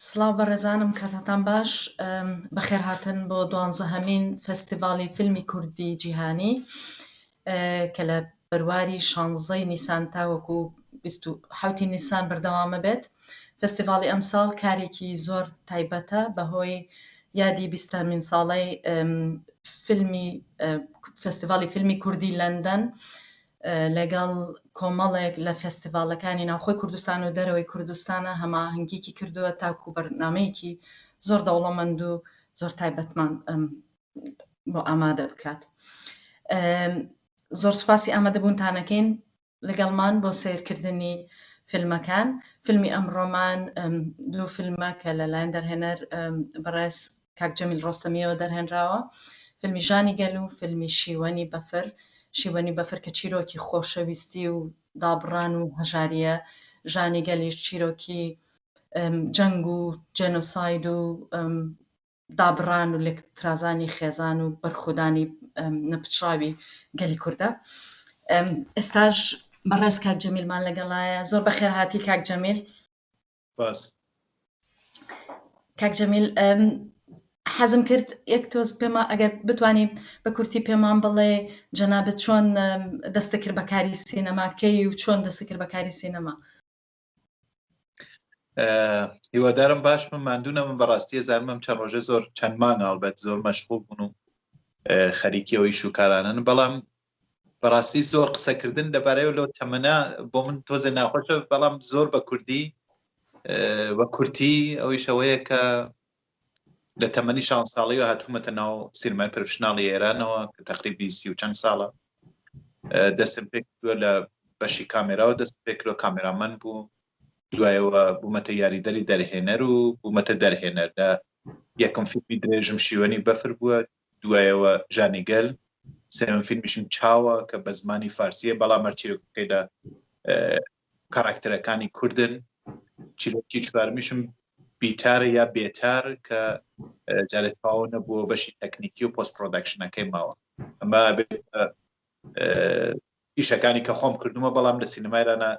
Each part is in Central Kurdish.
سڵاو بەڕێزانم کاتاتان باش بەخێرهاتن بۆ دوانزەهەمین فستیڤاڵی فیلمی کوردی جیهانی کە لە بەرواری شانزەی نیسان تاوەکو حوتی نیسان بەردەوامە بێت فستیڤاڵی ئەمساڵ کارێکی زۆر تایبەتە بەهۆی یادی بیستامین ساڵی فیلمی فستیڤاڵی فیلمی کوردی لەندەن لەگەڵ کۆمەڵێک لە فێستیڤاڵەکانی ناوخۆی کوردستان و دەرەوەی کوردستانە هەماهەنگیکی کردووە تاکو بەرنامەیەکی زۆر دەوڵەمەند و زۆر تایبەتمان بۆ ئامادە بکات زۆر سوپاسی ئامادەبوونتانەکەین لەگەڵمان بۆ سیرکردنی فیلمەکان فیلمی ئەمڕۆمان دوو فیلمە کە لەلایەن دەرهێنەر بەڕێز کاک جەمیل ڕۆستەمییەوە دەرهێنراوە، فیلمی ژانی گەل و فیلمی شیوەنی بەفر، شیوەنی بەفر کە چیرۆکی خۆشەویستی و دابڕان و هەژارییە، ژانی گەلیش چیرۆکی جەنگ و جێنۆساید و دابڕان و لێکترازانی خێزان و بەرخودانی نەپچڕاوی گەلی کوردە. ئێستاش بەڕێز کاک جەمیلمان لەگەڵایە، زۆر بەخێرهاتی کاک جەمیل. باس کاک جەمیل حەزم کرد یەک تۆز پێما ئەگەر بتانی بە کورتی پێمان بڵێ جەنابەت چۆن دەستە کرد بەکاری سینەماکەی و چۆن دەستە کرد بەکاری سینەما هیوادارم باش من ماندونە من بەڕاستی زانمم چەند ڕۆژە زۆر چەند مانگاڵبەت زۆر مەشغول بوون و خەریکیەوەی شوکارانن بەڵام بەڕاستی زۆر قسە کردن لەبارەیەوە لەو تەمەنا بۆ من تۆزێ ناخۆشە بەڵام زۆر بە کوردی بە کورتی ئەوی شەوەیە کە لە تەمەنی شان ساڵی و هاتوومەتە ناو سیرمای پرفشنناڵی ئێرانەوە کە تقریبی سی و چەند ساڵە دەسم پێک لە بەشی کامێراوە دەست پێکرۆ کامێرامەن بوو دوایەوە بوومەتە یاریدەری دەرهێنەر و بوومەتە دەرهێنەر لە یەکم فیلمی درێژم شیوەنی بەفر بووە دوایەوە ژانی گەل سێم فیلمیشم چاوە کە بە زمانی فارسیە بەڵام مەرچیرەکەیدا کاراکتەرەکانی کوردن چیرۆکی چوارمیشم بیتارە یا بێتار کە جارێت پاوە نەبووە بەشی تەکنیکی و پۆست پرۆدەکشنەکەی ماوە ئەمە ئیشەکانی کە خۆم کردومە بەڵام لە سینەمایرانە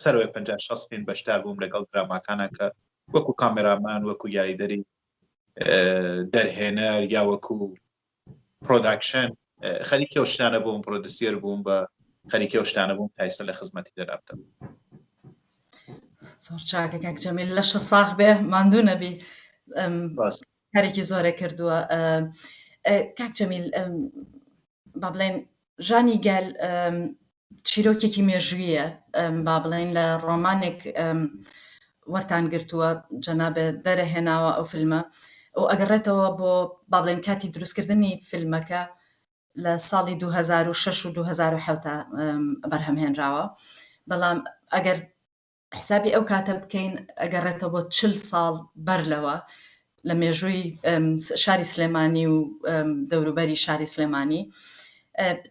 سەروێ 5 پێن بەشدار بووم لەگەڵ دراماکانە کە وەکو کامێرامان وەکو یاریدەری دەرهێنەر یا وەکو پرۆداکشن خەریکی ئەو شتانە بووم پرۆدسیەر بووم بە خەریکی ئەو شتانە بووم تایسە لە خزمەتی دەرابتم زۆر چاکە کاک جەمیل لە شە ساخ بێ ماندوو نەبی کارێکی زۆرە کردووە کاک جەمیل با بڵێن ژانی گەل چیرۆکێکی مێژوویە با بڵێن لە ڕۆمانێک وەرتان گرتووە جەنابێ دەرەهێناوە ئەو فیلمە ئەو ئەگەڕێتەوە بۆ با بڵێن کاتی دروستکردنی فیلمەکە لە ساڵی 2006 و 2007 بەرهەمهێنراوە بەڵام ئەگەر حسابی ئەو کاتە بکەین ئەگەڕێتەوە بۆ چل ساڵ بەر لەوە لە مێژووی شاری سلێمانی و دەوروبەری شاری سلێمانی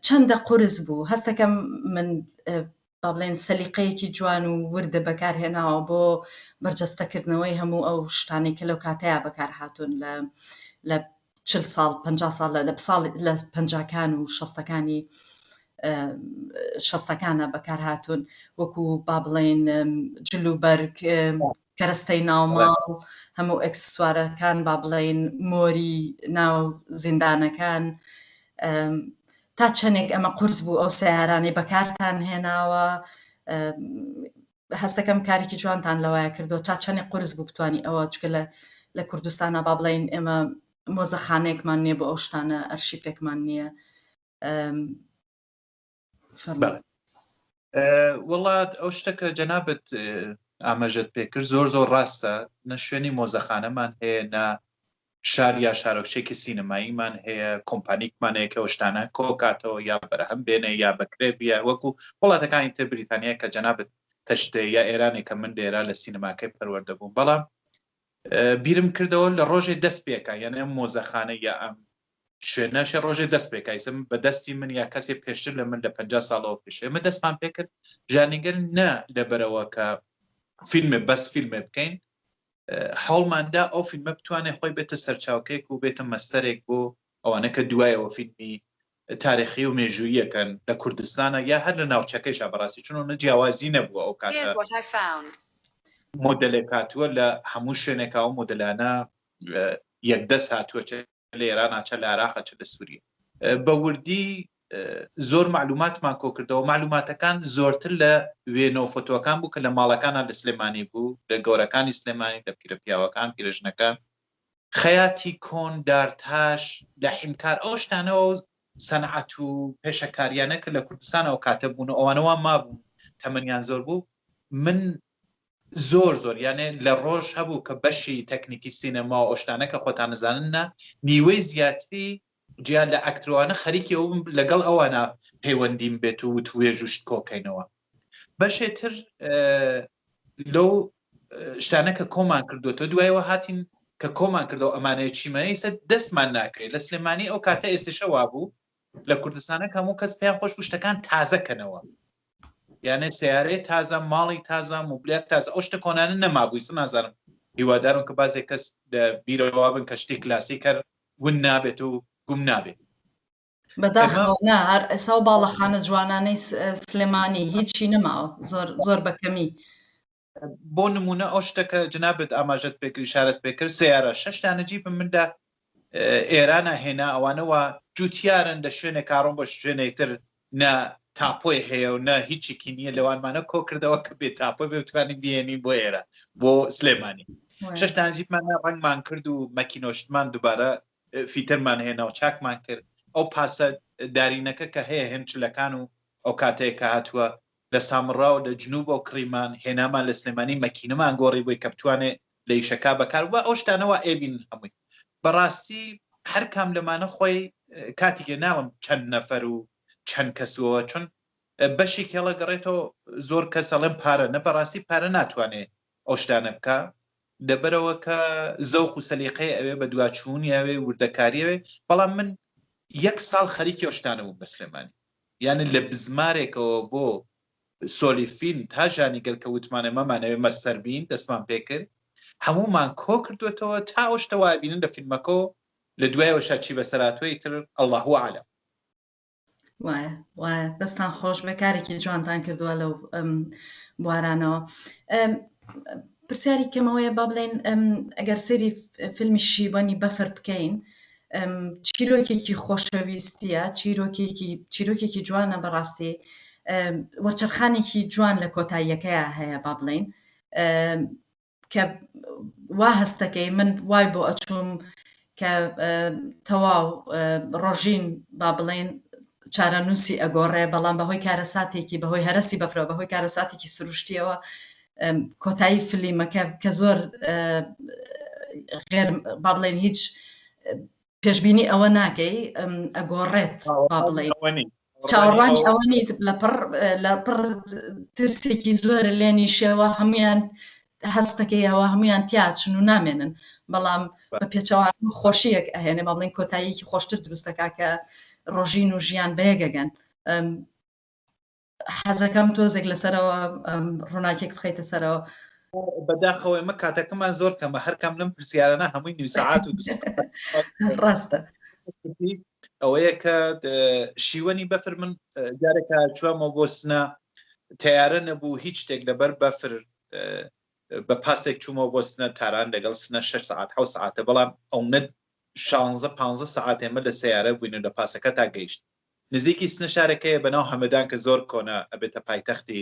چەندە قرس بوو هەستەکەم من با بڵێن سەلیقەیەکی جوان و وردە بەکارهێناوە بۆ بەرجەستەکردنەوەی هەموو ئەو شتانێک کە لەو کاتەیە بەکار هاتوون لە لە چل ساڵ پەنجا ساڵ لە لە ساڵ لە پەنجاکان و شەستەکانی شەستەکانە بەکارهاتون وەکو با بڵێن جل و بەرگ کەرەستەی ناوماڵ هەموو ئەکسسوارەکان با بڵێن مۆری ناو زیندانەکان تا چەندێک ئەمە قرس بوو ئەو سیارانەی بەکارتان هێناوە هەستەکەم کارێکی جوانتان لەوایە کردوە تا چەنێ قورس بوو بتوانی ئەوە چکە لە لە کوردستانا با بڵێین ئێمە مۆزەخانەیەکمان نییە بۆ ئەو شتانە ئەرشیپێکمان نییە وڵات ئەو شتەکە جەنابەت ئاماژەت پێکرد زۆر زۆر ڕاستە نە شوێنی مۆزەخانەمان هەیە نە شار یا شارۆچێکی سینەماییمان هەیە کۆمپانیکمان هەیە کەەوە شتانە کۆکاتەوە یا بەرهەم بێنێ یا بەکرێ بیە وەکو وڵاتەکانی تر بریتانیا کە جەنابەت تەشتێ یا ئێرانێک کە من لێرا لە سینەماکەی پەروەەردە بووم بەڵام بیرم کردەوە لە ڕۆژێ دەست پێکە یعنی ئەم مۆزەخانە یا ئەم شوێنەشە ڕۆژێ دەست پێکایسم بە دەستی من یا کەسێ پێشتر لە من لە پ ساڵەوە پێش ئێمە دەستمان پێکرد ژانیگەر نە لەبەرەوە کە فیلمێ بەس فیلمێ بکەین هەوڵماندا ئەو فیلمە بتوانێت خۆی بێتە سەرچاوکێک و بێتە مەستەرێک بۆ ئەوانە کە دوایەوە فیلمی تاریخی و مێژوویەکەن لە کوردستانە یا هەر لە ناوچەکەیشا بەڕاستی چون نە جیاوازی نەبووە ئەو کاتە مۆدلێک هاتووە لە هەموو شوێنێکا و مۆدلانە یەکدەست هاتووە لە ئێرانا چە لە عێراقە چە لە سووریە بە وردی زۆر معلوماتمان کۆکردەوە معلوماتەکان زۆرتر لە وێنە و فۆتۆەکان بوو کە لە ماڵەکانە لە سلێمانی بوو لە گەورەکانی سلێمانی لە پیرە پیاوەکان پیرژنەکان خەیاتی کۆن دارتاش لە حیمکار ئەو شتانەوە سەنعات و پێشەکاریانە کە لە کوردستانەوە کاتە بوون ئەوانەوە مابوون تەمەنیان زۆر بوو من زۆر زۆر یانێ لە ڕۆژ هەبوو کە بەشی تەکنیکی سینەما و ئەو شتانە کە خۆتان ئەزانن نا نیوەی زیاتری جیا لە ئەکترۆانە خەریکی ئەو لەگەڵ ئەوانە پەیوەندیم بێت و وتوێژ و شت کۆکەینەوە بەشێ تر لەو شتانە کە کۆمان کردوەوە دوایەوە هاتین کە کۆمان کردەوە ئەمانەیە چیمەیسە دەستمان ناکرێت لە سلێمانی ئەو کاتە ئێستشەوا بوو لە کوردستانە کە هەموو کەس پێیان خۆش بوو شتەکان تازە کەنەوە یانێ سیارەی تازە ماڵی تازە موبلات تازە ئەو شتە کۆنانە نەمابووی سە نازانم هیوادارم کە بازێک کەس لە بیرەوە بن کە شتی کلاسی کەر ون نابێت و گوم نابێت بەداخەوە هەر ئەسا و باڵەخانە جوانانەی سلێمانی هیچی نەماوە زۆر زۆر بەکەمی بۆ نمونە ئەو شتە کە جنابت ئاماژەت پێکرد ئشارەت پێکرد سیارە شش دانە جیبم مندا ئێرانە هێنا ئەوانەوە جوتیارن لە شوێنێک کاڕۆم بە شوێنێکتر نە تاپۆی هەیە و نە هیچێکی نییە لەوانمانە کۆ کردەوە کە بێ تاپۆ بێتوانین بێنین بۆ ئێرە بۆ سلێمانی ششتان جیبمان ڕنگمان کرد و مەکینۆشتمان دووبارە فیتەرمان هێنا و چاکمان کرد ئەو پاسە دارینەکە کە هەیە هێنچلەکان و ئەو کاتەیە کە هاتووە لە سامڕا و لە جنوب و کڕیمان هێنامان لە سلێمانی مەکینەمان گۆڕی بۆی کە بتوانێ لە ئیشەکا بەکار ببا ئەو شتانە وا ئەیبینن هەمووی بەڕاستی هەر کام لەمانە خۆی کاتیکێ ناڵم چەند نەفەر و چەند کەسوەوە چون بەشێکی هەڵە گەڕێتەوە زۆر کەس ئەڵێن پارە نە بەڕاستی پارە ناتوانێ ئەو شتانە بکە لەبەرەوە کە زەوق و سەلیقەیە ئەوێ بە دواچوونیاوێ وردەکاریەوێ بەڵام من یەک ساڵ خەریکی ئەو شتانە بووم بە سلێمانی یانی لە بزمارێکەوە بۆ سۆلی فیلم تا ژانی گەل کە وتمانە مەمانەوێ مەستەر بین دەستمان پێ کرد هەموومان کۆ کردۆتەوە تا ئەو شتە وای بینن لە فیلمەکەو لە دوایەوەشا چی بەسەر هاتووەی تر اللە هو اعلم. وایە وایە دەستان خۆش بێ کارێکی جوانتان کردووە لەو بوارانەوە پرسیاری کەمەوەیە با بڵێن ئەگەر سری فیلمی شیبانی بەفر بکەین چیرۆکێکی خۆشەویستیە چیرۆکێکی چیرۆکێکی جوانە بەڕاستی وەرچەرخانێکی جوان لە کۆتاییەکەیە هەیە با بڵین کە وا هەستەکەی من وای بۆ ئەچووم کە تەواو ڕۆژین با بڵێن چارەنووسی ئەگۆڕێ بەڵام بەهۆی کارەساتێکی بەهۆی هەرسی بەفرە بەهۆی کارەساتێکی سروشتیەوە کۆتایی فلیمەکە کە زۆر غێر با بڵێن هیچ پێشببینی ئەوە ناکەی ئەگۆڕێت با بڵێ چاوەڕوانی ئەوە نیت لە پڕ لە پڕ ترسێکی زۆر لێنی شێوە هەمویان هەستەکەیەوە هەمویان تیاچن و نامێنن بەڵام بە پێچەوان خۆشیەک ئەهێنێ با بڵێن کۆتاییەکی خۆشتر دروستەکە کە ڕۆژین و ژیان بەیەگەگەن حەزەکەم تۆزێک لەسەرەوە ڕووناکێک بخیتە سەرەوە بەداخەوەی مە کاتەکەمان زۆر کەمە هەرکەم لەم پرسیارانە هەمووی نوی سعات و ڕاستە ئەوەیە کە شیوەنی بەفر من جارێکە چوامەوە بۆ سنا تیارە نەبوو هیچ شتێک لەبەر بەفر بە پاسێک چوومەوە بۆ سنە تاران لەگەڵ سنە 6 سعات ح سعاتە بەڵام ئەو نەت 16 پ سعات ئێمە لە سیارە بووین و لە پاسەکە تا گەیشت نزیکی سنە شارەکەیە بەناو هەمەدان کە زۆر کۆنە ئەبێتە پایتەختی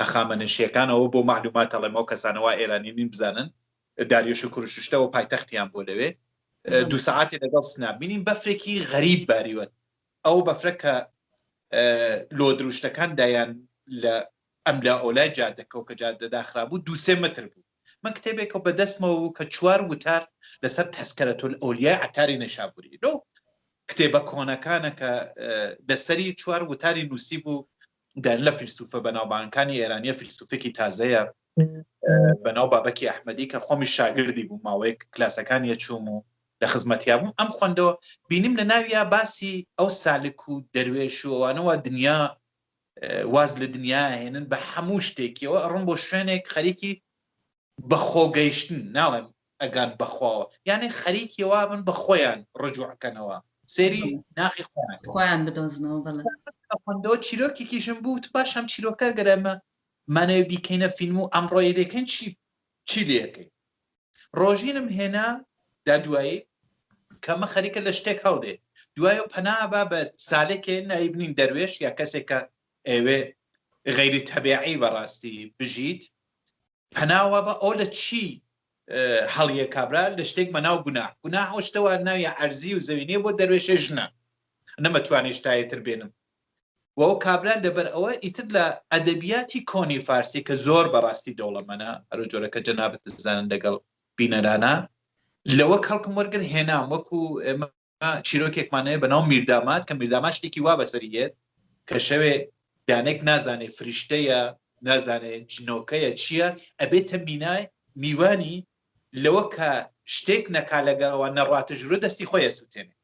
هەخامەنشیەکان ئەوە بۆ مەعلومات ئەڵێم ئەو کەسانە وا ئێرانی نین بزانن داریۆش و کورششتە وە پایتەختیان بوە لەوێ دوو سەعاتی لەگەڵ سنە بینین بەفرێکی غەریب باریوە ئەو بەفرە کە لۆ دروشتەکان دایان لە ئەملا ئەولای جادەکەو کە جادە داخرابوو دوو سێ مەتر بوو من کتێبێکەو بە دەستمەوە بوو کە چوار وتار لەسەر تەسکەرەتولئەولیای عەتاری نەیشابووری لەو کتێبە کۆنەکانە کە لەسەری چوار وتاری نووسی بوو دەن لە فیلسوفە بەناوبانکانی ئێرانیە فیلسوفێکی تازەیە بەناو بابەکی ئەحمەدی کە خۆمی شاگردی بوو ماوەیەک کلاسەکان یە چووم و لە خزمەتیا بووم ئەم خوندەوە بینیم لە ناویا باسی ئەو سالک و دەروێش و ئەوانەوە دنیا واز لە دنیا ئەهێنن بە هەموو شتێکیەوە ئەڕۆن بۆ شوێنێک خەریکی بەخۆ گەیشتن ناڵێن ئەگان بەخواوە یانێ خەریکی وابن بە خۆیان ڕجوعکەنەوە سێری ناخی خۆیان بدۆزنەوە بەڵندەوە چیرۆکێکیشم بوو پاش هەم چیرۆکە گەرەمە مانەوە بیکەینە فیلم و ئەمڕۆی دەکەن چی چی لەکەین ڕۆژینم هێنا دا دوایی کەمە خەریکە لە شتێک هەڵێ دوای و پەنا با بە سالێکێ نایبنین دەروێش یا کەسێکە ئەوێ غیری تەبیعی بەڕاستی بژیت پەناوە بە ئەو لە چی هەڵیە کابرا لە شتێک بە ناو گونا گونا ئەو شتەوە ناوی ئەرزی و زەوینێ بۆ دەروێشێ ژنە نەمەتوانێت شتایەتر بێنم و ئەو کابرا لەبەر ئەوە ئیتر لە ئەدەبیاتی کۆنی فارسی کە زۆر بەڕاستی دەوڵەمەنە هەرو جۆرە کە جەنابت دەزانن لەگەڵ بینەرانە لەوە کەڵکم وەرگر هێنام وەکو ئێمە چیرۆکێکمانەیە بەناو میردامات کە میردامات شتێکی وا بەسەریێت کە شەوێ دانێک نازانێ فریشتەیە نازانێ جنۆکەیە چییە ئەبێتە مینای میوانی لەوە کە شتێک نەکا لەگەرەوە نەڕاتە ژورە دەستی خۆی سووتێنێ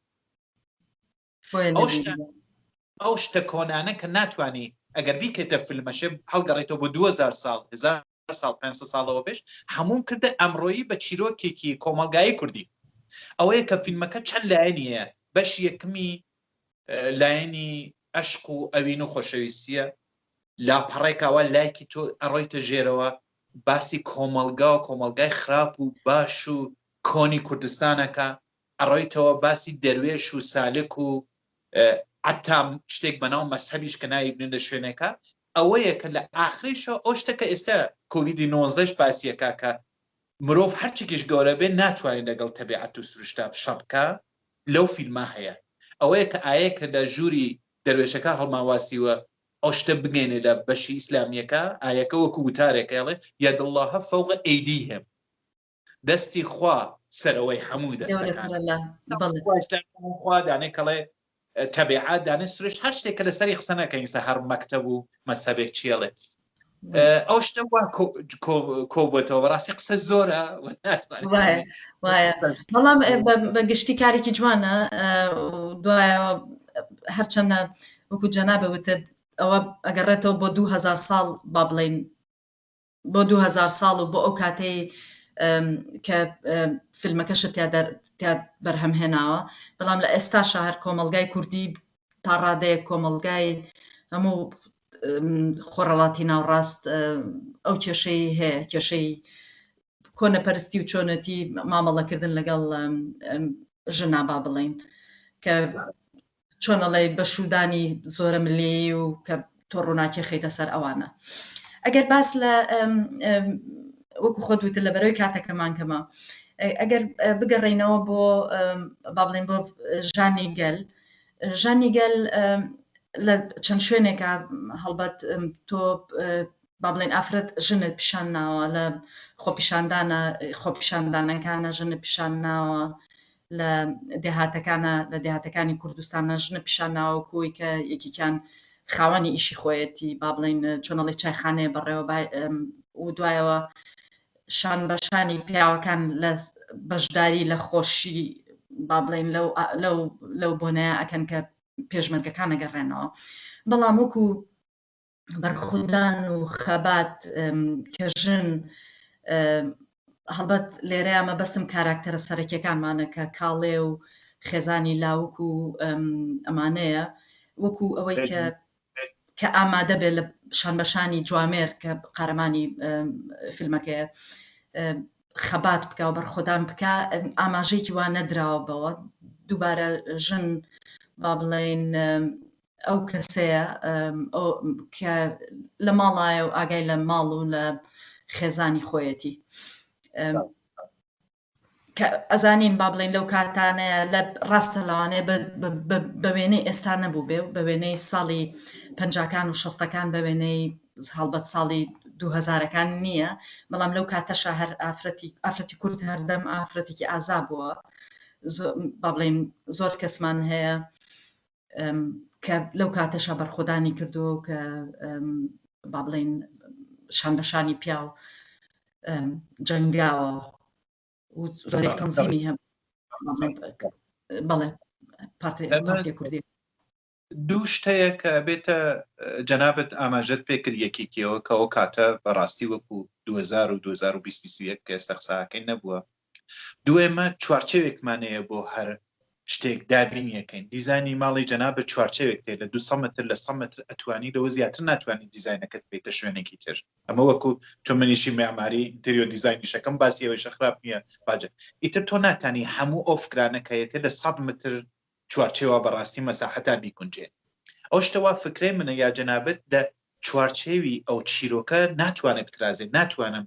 ئەو شتە ئەو شتە کۆنانە کە ناتانی ئەگەر بیکەێتە فیلمەشێ هەڵگەڕێتەوە بۆ 2000 سال هزار سال 500 ساڵەوە پێش هەموم کردە ئەمڕۆیی بە چیرۆکێکی کۆمەلگایی کوردی ئەوەیە کە فیلمەکە چەند لایەنی هەیە بەش یەکمی لایەنی ئەشق و ئەوین و خۆشەویستیە لاپەڕێکاوە لایکی تۆ ئەڕۆیتە ژێرەوە باسی کۆمەلگا و کۆمەلگای خراپ و باش و کۆنی کوردستانەکە ئەڕۆیتەوە باسی دەروێش و سالک و عەتا شتێک بەناو مەزهەبیش کە ناوی بنێن لە شوێنێکا ئەوەیە کە لە ئاخری شەو ئەو شتە کە ئێستا کۆویدی نۆزدە ش باسیەکا کە مرۆڤ هەرچێکیش گەورە بێ ناتوانێ لەگەڵ تەبیعەت و سروشتا شە بکا لەو فیلما هەیە ئەوەیە کە ئایە کە لە ژووری دەروێشەکە هەڵماواسیوە ئەو شتە بگەینێ لە بەشی ئیسلامیەکە ئایەکە وەکو وتارێکە ئەڵێ یەد اللە فوق ئەیدیهم دەستی خوا سەرەوەی هەموو دەستەکان خوا دانێ کەڵێ تەبیعات دانێ سروش هەر شتێک کە لەسەری قسە نەکەین سە هەر مەکتەب و مەسەبێک چێڵێ ئەو شتە کۆبەتەوە بەڕاستی قسە زۆرە بەڵام بە گشتی کارێکی جوانە دوایە هەرچەندە وەکو جەنا بەوتت ئەوە ئەگەڕێتەوە بۆ دوهزار ساڵ با بڵین بۆ دوو هەزار ساڵ و بۆ ئەو کاتەی کە فیلمەکەشت تیا بەرهەم هێناوە بەڵام لە ئێستاشە هەر کۆمەلگای کوردی تا ڕادەیە کۆمەلگای هەموو خۆڕەڵاتی ناوڕاست ئەو کێشەی هەیە کێشەی کۆنەپەرستی و چۆنەتی مامەڵەکردن لەگەڵ ژنا با بڵین کە چۆن ئەڵێی بەشوودانی زۆرە ملێی و کە تۆ ڕووناکی خەیتە سەر ئەوانە ئەگەر باس لە وەکو خۆت وتر لە بەرەوەی کاتەکەمان کەمە ئەگەر بگەڕینەوە بۆ با بڵێن بۆ ژانی گەل ژانی گەل لە چەند شوێنێکە هەڵبەت تۆ با بڵێین ئافرەت ژنت پیشان ناوە لە خۆپیشاندانە خۆپیشاندانەکانە ژنت پیشان ناوە لە دێهاتەکانە لە دێهاتەکانی کوردستانە ژنە پیشان ناوە کۆی کە یەکیان خاوەنی ئیشی خۆیەتی با بڵین چۆنەڵی چایخانەیە بەڕێوە و دوایەوە شان بەشانی پیاوەکان لە بەشداری لە خۆشی با بڵین لەو بۆنەیە ئەکەن کە پێشمەرگەکان نەگەڕێنەوە بەڵام وەکو بەرخودان و خەبات کە ژن هەڵبەت لێرەیە مەبەستم کاراکتەرە سەرەکیەکانمانە کە کاڵێ و خێزانی لاوک و ئەمانەیە وەکو ئەوەی کە کە ئامادە بێت لە شان بەشانی جوامێر کە قارەمانی فیلمەکەیە خەبات بکە و بەرخۆدان بکە ئاماژەیەکی وان نەدراوە بەوە دووبارە ژن با بڵێن ئەو کەسەیە کە لە ماڵایە و ئاگای لە ماڵ و لە خێزانی خۆیەتی ئەزانین با بڵین لەو کاتانەیە لە ڕاستە لەوانەیە بە وێنەی ئێستا نەبوو بێ و بە وێنەی ساڵی پنجکان و شەستەکان بە وێنەی هەڵبەت ساڵی دوهزارەکان نییە بەڵام لەو کاتەشە هەر ئافرەتی ئافرەتی کورد هەردەم ئافرەتێکی ئازا بووە با بڵین زۆر کەسمان هەیە کە لەو کاتەشە بەرخۆدانی کردووە و کە با بڵین شان بەشانی پیاو جەنگاوە تەنزیمی هەم بەڵێ پارتی کوردی دوو شتەیە کە بێتە جەنابەت ئاماژەت پێکرد یەکێکیەوە کەەوە کاتە بەڕاستی وەکو 2020 کە ئێستا قساکەی نەبووە دوێمە چوارچێوێکمان هەیە بۆ هەر شتێک دابینی یەکەین دیزانی ماڵی جەنابە چوارچێوێک تێ لە دو سەمەتر لە سەمەتر ئەتوانی لەوە زیاتر ناتوانانی دیزینەکەت بێتە شوێنێکی تر ئەمە وەکو چۆن منیشی مێعماری تریۆ دیزانی شەکەم باسی ئەوەی شەخراپ نییە باجە ئیتر تۆ ناتانی هەموو ئەو فکرانەکەیەتە لە سەد متر چوارچێوە بەڕاستی مەساحتا بیگونجێ ئەو شتەوا فکرێ منە یا جەنابەت لە چوارچێوی ئەو چیرۆکە ناتوانێت بترازێت ناتوانم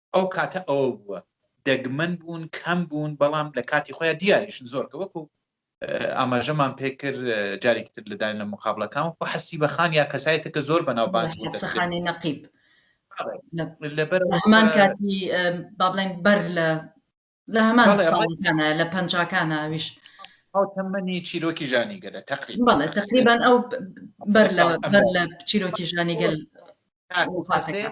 ئەو کاتە ئەوە بووە دەگمەن بوون کەم بوون بەڵام لە کاتی خۆیان دیاریشن زۆر کە وەکو ئاماژەمان پێکرد جارێکی تر لەدان لە مقابلەکان و حەسی بەخان یا کەسایەتە کە زۆر بەناوبان دەستخانی نەقیب لەبەرمان کاتی با بڵێن بەر لە لە هەمان بەڵێ، ڕای- ساڵەکانە لە پەنجاکانە ئەویش ئەو تەمەنی چیرۆکی ژانی گەلە تقریبا بەڵێ تقریبان ئەو بەر لە ساڵ بەر لە چیرۆکی ژانی گەل وفاتەکە.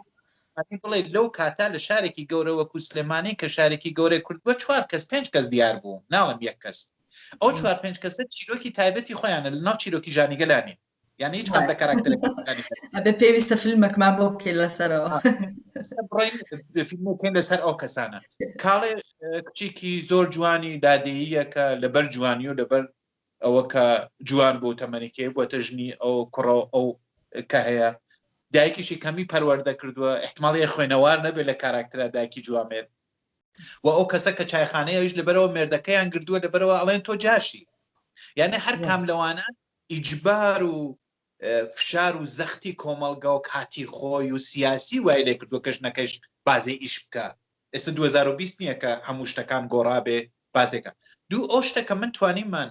ئەبی بڵێ لەو کاتا لە شارێکی گەورە وەکو سلێمانی کە شارێکی گەورەی کورد بە چوار کەس پێنج کەس دیار بوو ناڵم یەک کەس ئەو چوار پێنج کەسە چیرۆکی تایبەتی خۆیانە لە ناو چیرۆکی ژانیگەلانین یان هیچ کام لە کاراکتەرەکان ئەبێ پێویستە فیلمێکمان بۆ بکەی لەسەرەوە بڕین فیلمەکەین لەسەر ئەو کەسانە کاڵێ کچێکی زۆر جوانی دادەییەکە لەبەر جوانی و لەبەر ئەوە کە جوان بۆ تەمەنیکێ بۆ تەژنی ئەو کوڕە ئەو کە هەیە دایکیشی کەمی پەروەەردە کردووە احتماڵی خوێنەوار نەبێت لە کاراکترا دایکی جوامێت و ئەو کەسە کە چایخانەیەش لەبەرەوە مێردەکەیان گردووە لەبەرەوە ئەڵێن تۆ جاشی یعنی هەر کام لەوانە ئیجبار و فشار و زەختی کۆمەڵگا و کاتی خۆی و سیاسی وای لێ کردووە کە ژنەکەیش بازێ ئیش بکا. ئێستا دوو هەزار و بیست نیە کە هەموو شتەکان گۆڕابێ بازێ کا. دوو ئەو شتە کە من توانیمان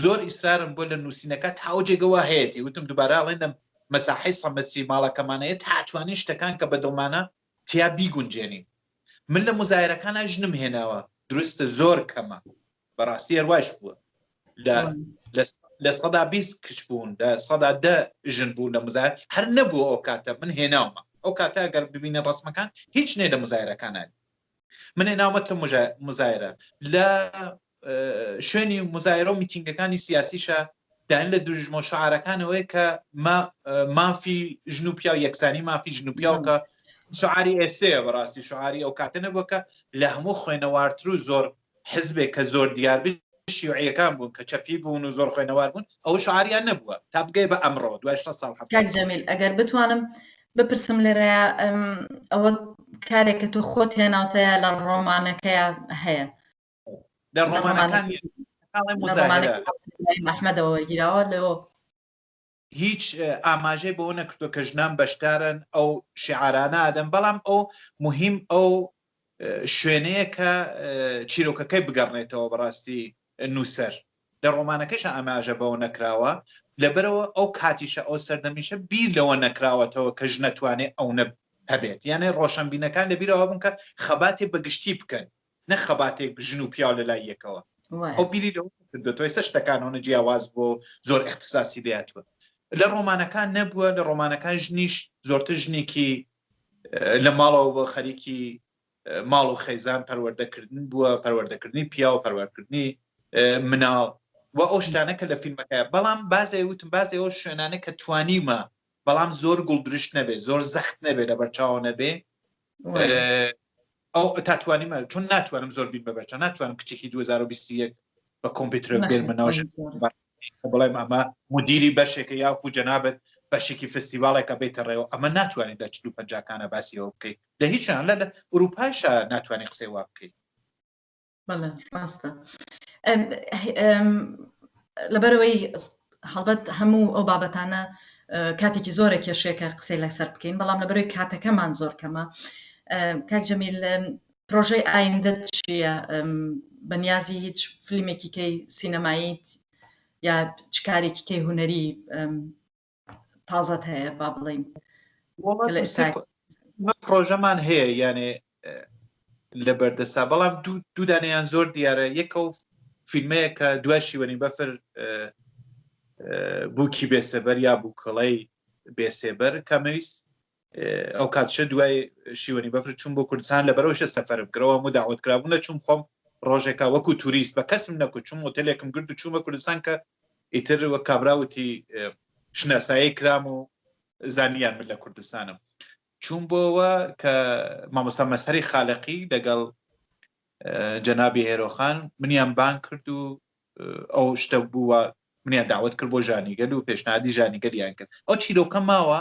زۆر ئیسرارم بۆ لە نووسینە کا تا ئەو جێگە وا هەیەتی وتم دووبارە ئەڵێن لە مەساحەی سە مەتری ماڵەکەمانە یە تا توانین شتەکان کە بە دڵمانە تیا بیگونجێنین. من لە موزایەرەکانا ژنم هێناوە دروستە زۆر کەمە. بەڕاستی هەر وایش بووە لە لە لە سەدا بیست کچ بوون لە سەدا دە ژن بوون لە مزار هەر نەبوو ئەو کاتە من هێناومە ئەو کاتە گەر ببینە ڕسمەکان هیچ نێ لە مزایرەکانان من هێناومە تە مزایرە لە شوێنی مزایرە و میتینگەکانی سیاسیشە دان لە دوژمە شعارەکانەوەی کە مافی ژن و پیا و یەکسانی مافی ژن و پیاوکە شعاری ئێستەیە بەڕاستی شعاری ئەو کاتە نەبووکە لە هەموو خوێنەوارتر و زۆر حزبێک کە زۆر دیاربی شیوعیەکان بوون کە چەپی بوون و زۆر خوێنەوار بوون ئەوە شعاریان نەبووە تا بگەی بە ئەمڕۆ دوای شەست ساڵ حەفتا کاک جەمیل ئەگەر بتوانم بپرسم لێرەیە ئەم، ئەوە کارێک کە تۆ خۆت هێناوتەیە لە ڕۆمانەکەیە هەیە لە لە ڕۆمانەکان ڕۆمانەکە نییە. تاڵێ لە مزاهرە ڕۆمانەکە ئەحمەدەوە وەرگیراوە لەوە هیچ ئاماژەی بەوە نەکردوە کە ژنان بەشدارن ئەو شعارانە ئادەن بەڵام ئەو مهم ئەو شوێنەیە کە چیرۆکەکەی بگەڕنێتەوە بەڕاستی نووسەر لە ڕۆمانەکەش ئاماژە بەوە نەکراوە لەبەرەوە ئەو کاتیشە ئەو سەردەمیشە بیر لەوە نەکراوەتەوە کە ژنەتوانێت ئەو نە هەبێت یانە ڕۆشنبینەکان لەبیرەوە بوون کە خەباتی بەگشتی بکەن نەک خەباتێک ژن و پیاو لە لای یەکەوە. ئەو بیری لەوە نەکردۆتەوە، ئێستا شتەکان ئەوەنە جیاواز بووە و زۆر ئیختیساسی لێ هاتووە. لە ڕۆمانەکان نەبووە، لە ڕۆمانەکان ژنیش زۆرتر ژنێکی لە ماڵەوە بووە، خەریکی ماڵ و خێزان پەروەردەکردن بووە، پەروەردەکردنی پیاو، پەروەردەکردنی مناڵ و ئەو شتانە کە لە فیلمەکە. بەڵام باز ئەوەی وتم، باز ئەو شوێنانە کە توانیومە، بەڵام زۆر گوڵدرشت نەبێ، زۆر زەخت نەبێ، لەبەرچاو نەبێ، ئەو تاتوانیمە چون ناتوانم زۆر بین بەبەچە ناتوانم کچێکی 2021 بە کۆمپیوتر بێنمە ناوژ بڵێم ئەمە مدیری بەشێکە یاکو جەنابەت بەشێکی فستیڤالێکە بێتە ڕێەوە ئەمە ناتوانێت لە چلو پنجکانە باسیەوە بکەیت لە هیچیان لە ئوروپایشە ناتوانانی قسەی وا بکەیت بەڵێ ڕاستە لەبەرەوەی هەڵبەت هەموو ئەو بابەتانە کاتێکی زۆرە کێشێکە قسەی لەسەر بکەین بەڵام لەبەرەوەی کاتەکەمان زۆر کەمە کاک جەمیل پرۆژەی ئایندە چییە بەنیازی هیچ فیلمێکی کەی سینەماییت یا چکارێکی کەی هوەری تازەت هەیە با بڵین پرۆژەمان هەیە یانێ لە بەردەسا بەڵام دوودانیان زۆر دیارە یەکە و فیلمەیە کە دوای شیوەنی بەفر بووکی بێسەبەر یا بووکەڵەی بێسێبەر کامەویست ئەو کاتش دوای شیوەنی بەفر چوون بۆ کوردستان لە بەرەوەشە سەفرم کرەوە و داوت کرابوو لە چوم خۆم ڕۆژێکا وەکو توریست بە کەسم نەکو چوم وتەلێکم گرد و چوومە کوردستان کە ئیتر وە کابراوتی شناسایی کرام و زانیان من لە کوردستانم چوون بۆەوە کە مامۆستا مەسەری خالقی لەگەڵ جەنابی هێرۆخان منیان بان کرد و ئەو شتە بووە منیان داوت کرد بۆ ژانیگەل و پێشنادی ژانیگەلیان کرد ئەو چیرۆکە ماوە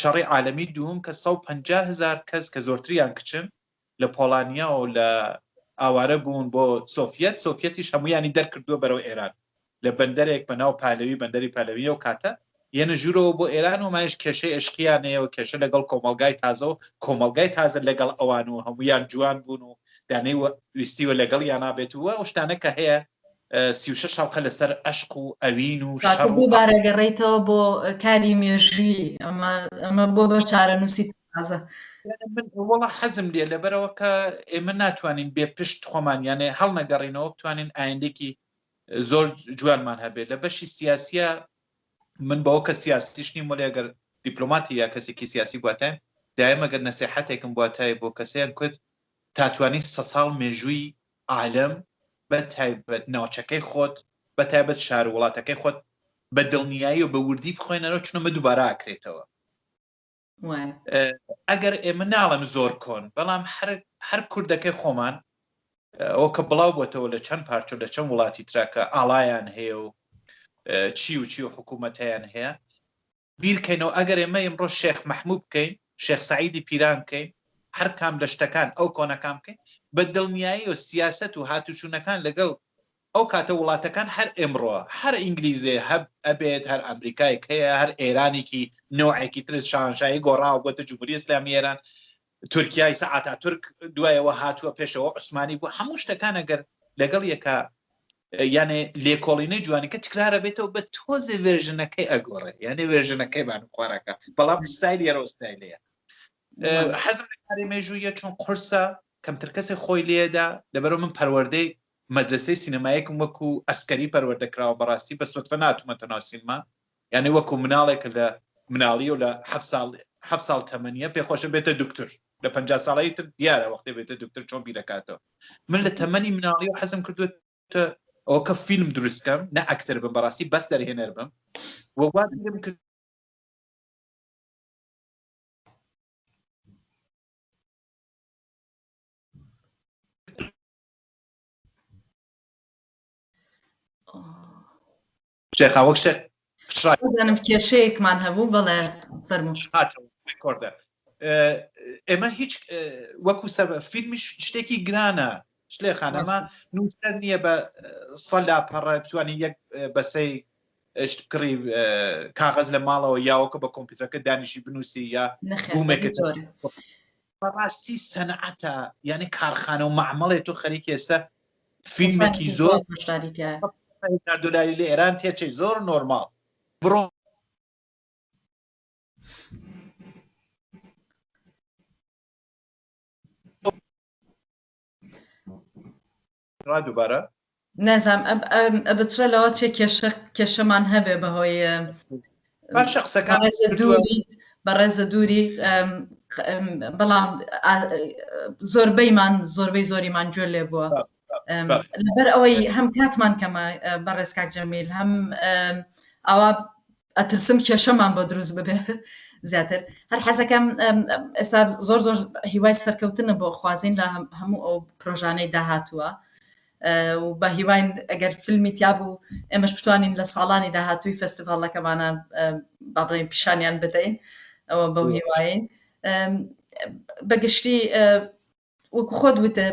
شەڕی عالەمی دووم کە سەد و پەنجا هەزار کەس کە زۆرتریان کچن لە پۆڵانیا و لە ئاوارە بوون بۆ سۆفیەت سۆفیەتیش هەموویانی دەرکردووە بەرەو ئێران لە بەندەرێک بە ناو پالەوی بەندەری پالەوی ئەو کاتە یەنە ژوورەوە بۆ ئێران و مایش کێشەی ئەشقیانەیە و کێشە لەگەڵ کۆمەڵگای تازە و کۆمەڵگای تازە لەگەڵ ئەوان و هەموویان جوان بوون و دانەی ویستیوە لەگەڵ یانابێت و ئەو شتانە کە هەیە سی و شەش هەڵقە لەسەر ئەشق و ئەوین و شەڕ و. کاکە بۆ بارەگەڕێیتەوە بۆ کاری مێژووی ئەمە ئەمە بۆ بە چارەنووسی تازە. من وەڵا حەزم لێ لەبەرەوە کە ئێمە ناتوانین بێ پشت خۆمان یانێ هەڵنەگەڕینەوە بتوانین ئایندێکی زۆر جوانمان هەبێت لە بەشی سیاسیە من بەوە کە سیاسیش نیم وەلی ئەگەر دیپلۆماتی یا کەسێکی سیاسی بواتایم دایمەگەر نەسیحەتێکم بواتای بۆ کەسەیان کورد تاتوانی سە ساڵ مێژووی عالەم بە تایبەت ناوچەکەی خۆت بە تایبەت شارو وڵاتەکەی خۆت بە دڵنیایی و بە وردی بخوێنەرەوە چونە مە دووبارە ئاکرێتەوە. وایە. ئەگەر ئێمە ناڵێم زۆر کۆن بەڵام هەر هەر کوردەکەی خۆمان ئەوە کە بڵاو بۆتەوە لە چەند پارچە و لە چەند وڵاتی ترا کە ئاڵایان هەیە و چی و چی و حکوومەتیان هەیە بیرکەینەوە ئەگەر ئێمە ئیمڕۆ شێخ مەحموو بکەین، شێخ سەعیدی پیران بکەین، هەر کام لە شتەکان ئەو کۆنەکان بکەین، بە دڵنیاییەوە سیاسەت و هاتوچوونەکان لەگەڵ ئەو کاتە وڵاتەکان هەر ئێمڕۆ، هەر ئینگلیزێ هەب ئەبێت، هەر ئەمریکایەک هەیە، هەر ئێرانێکی نەوعێکی ترس شاهەنشاهی گۆڕاوە بۆتە جمهوری اسلامی ایران، تورکیای سە ئاتاتورک دوایەوە هاتووە پێشەوە عوسمانی بوو هەموو شتەکان ئەگەر لەگەڵ یەکە یانێ لێکۆڵینەی جوانەکە تکرارە بێتەوە بە تۆزێ وێژنەکەی ئەگۆڕێ یانێ وێژنەکەی بان خوارەکە بەڵام ستایل یەرۆستایلەیە حەزم لەکاری مێژوویە چون قرسە کەمتر کەسێک خۆی لێدا لەبەرە من پەروەردەی مەدرسەی سینەمایەکم وەکو ئەسکەری پەروەردەکراوە بەڕاستی بە سوتفە ناتومەتەناسیمە یانی وەکو مناڵێک کە لە مناڵیەو لە هەفت ساڵ هەفت ساڵ تەمەنیە پێ خۆشە بێتە دوکتور لە پەنجا ساڵەی تر دیارە وەختێ بێتە دوکتور چۆن بیرەکاتەوە من لە تەمەنی مناڵیەوە حەزم کردوە تە ئەوە کە فیلم دروستکەم نە ئەکتەر بم بەڕاستی بەس دەرهێنەر بم وەگوات بیرم کرد شێخا وەک شێ بزانم کێشەیەکمان هەبوو بەڵێ فەرموشاتەوەکۆردە ئێمە هیچ وەکو سەر فیلمی شتێکی گرانە شلێ خانەما نووسەر نییە بە سەلا پەڕە بتوانین یەک بەسەی کڕی کاغز لە ماڵەوە یاوەکە بە کۆمپیوتەکە دانیشی بنووسی یا گومێکە بەڕاستی سەنعەتە یعنی کارخانە و معمەڵێ تۆ خەریک ئێستا فیلمێکی زۆر دلاری لە ئێران تێچەی زۆر نۆرمال بڕۆ ڕا دوبارە. نازانم ئە بچڕە لەوە چێ کێشە کێشەمان هەبێ بەهۆی باشە قسەکان بەڕێزە دووری بەڕێزە دووری بەڵام زۆربەیمان زۆربەی زۆریمان گوێ لێ بووە لەبەر ئەوەی هەم کاتمان کەمە بەڕێز کاک جەمیل هەم ئەوە ئەترسم کێشەمان بۆ دروست ببێ زیاتر هەر حەزەکەم ئێستا زۆر زۆر هیوای سەرکەوتنە بۆ خوازین لە هەموو ئەو پرۆژانەی داهاتووە و بە هیواین ئەگەر فیلمی تیا بوو ئێمەش بتوانین لە ساڵانی داهاتووی فستیڤالەکەمانە بابڕین پیشانیان بدەین ئەوە بەو هیواین بەگشتی وەکو خۆت وتە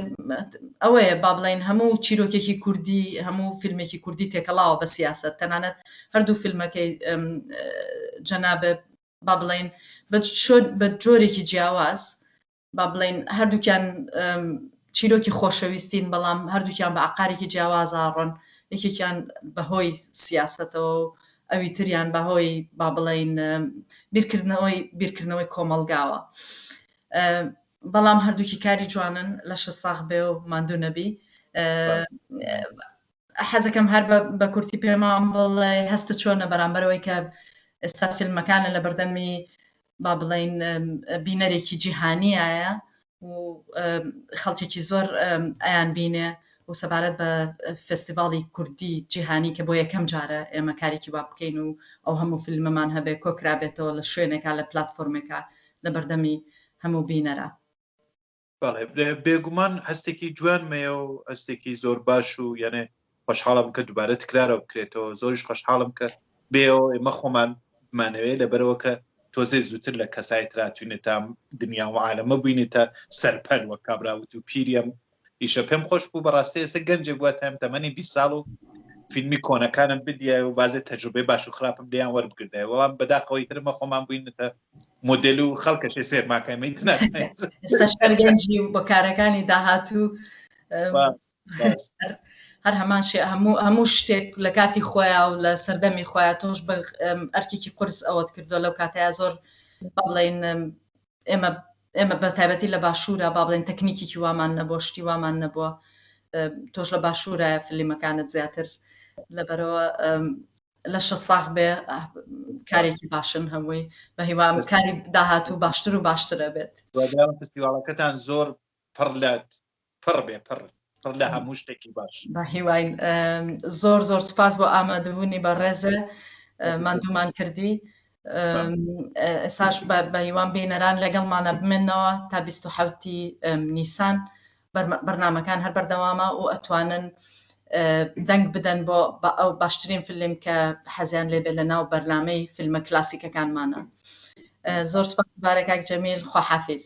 ئەوەیە با بڵین هەموو چیرۆکێکی کوردی هەموو فیلمێکی کوردی تێکەڵاوە بە سیاست تەنانەت هەردوو فیلمەکەی جەنابە با بڵین بە جۆرێکی جیاواز با بڵین هەردووکیان چیرۆکی خۆشەویستین بەڵام هەردووکیان بە عقارێکی جیاوازاڕۆن یەکێکیان بەهۆی سیاستەوە و ئەوی تریان بەهۆی با بڵین بیرکردنەوەی بیرکردنەوەی کۆمەلگاوە. بەڵام هەردووکی کاری جوانن لەشت ساغ بێ و ماندوو نەبی حەزەکەم هەر بە کورتی پێمان بڵێ هەستە چۆنە بەرامبەرەوەی کە ئێستا فیلمەکانە لە بەردەمی با بڵین بینەرێکی جیهانیایە و خەڵکێکی زۆر ئەیان بینێ و سەبارەت بە فستیڤاڵی کوردی جیهانی کە بۆ یەکەم جارە ئێمە کارێکی وا بکەین و ئەو هەموو فیلمەمان هەبێ کۆکرابێتەوە لە شوێنێکا لە پلتفۆرمێکە لەبەردەمی هەموو بینەرا. بەڵێ بێگومان هەستێکی جوان مەیە و هەستێکی زۆر باش و یانێ خۆشحاڵم کە دووبارە تکرارەوە بکرێتەوە زۆریش خۆشحاڵم کە بێەوە ئێمە خۆمان مانەوەی لەبەرەوە کە تۆزێ زووتر لە کەسای تراتوینێت تا دنیا و عاالەمە بووینێتە سەرپەل وە کابراوت و پیریم ئیشە پێم خۆش بوو بەڕاستی ئێستا گەنجێک بواتم تەمەنی بی ساڵ و فیلمی کۆنەکانم بدیای و بازێ تەجوبێ باش و خراپم لیان وەربگردای وەڵام بەداخەوەی ترمە خۆمان بووینەتە مدل و خەڵکەشێ سێرماکەمەی گەنجی بە کارەکانی داهاتوو هەر هەمان شێ هەموو هەموو شتێک لە کاتی خۆیان و لە سەردەمی خۆیان تۆش بە ئەرکێکی قرس ئەوەت کردو لەو کاتەیە زۆر بڵێن ئێمە ئێمە بە تایبەتی لە باشوورا با بڵێن تەکنیکیکی وامان نەبووە شتی وامان نەبووە تۆش لە باشوورایە فلیمەکانت زیاتر لەبەرەوە لە شە ساخ بێ کارێکی باشن هەمووی بە هیوام کاری داهاتوو باشتر و باشترە بێت فستیواڵەکەتان زۆر پڕ لە پڕ بێ پڕ پڕ لە هەموو شتێکی باش بە هیواین زۆر زۆر سپاس بۆ ئامادەبوونی بە ڕێزە مادومان کردی ئێساش بە هیوان بینەران لەگەڵمانە بمێنەوە تا 1970 نیسان بەرنمەکان هەر بەردەوامە و ئەتوانن دەنگ بدەن بۆ ئەو باشترین فیلم کە حەزیان لێبێ لە ناو بەرنمەی فیلمە کلاسیکەکانمانە زۆر سپاس بارەکک جەمیل خواحافیز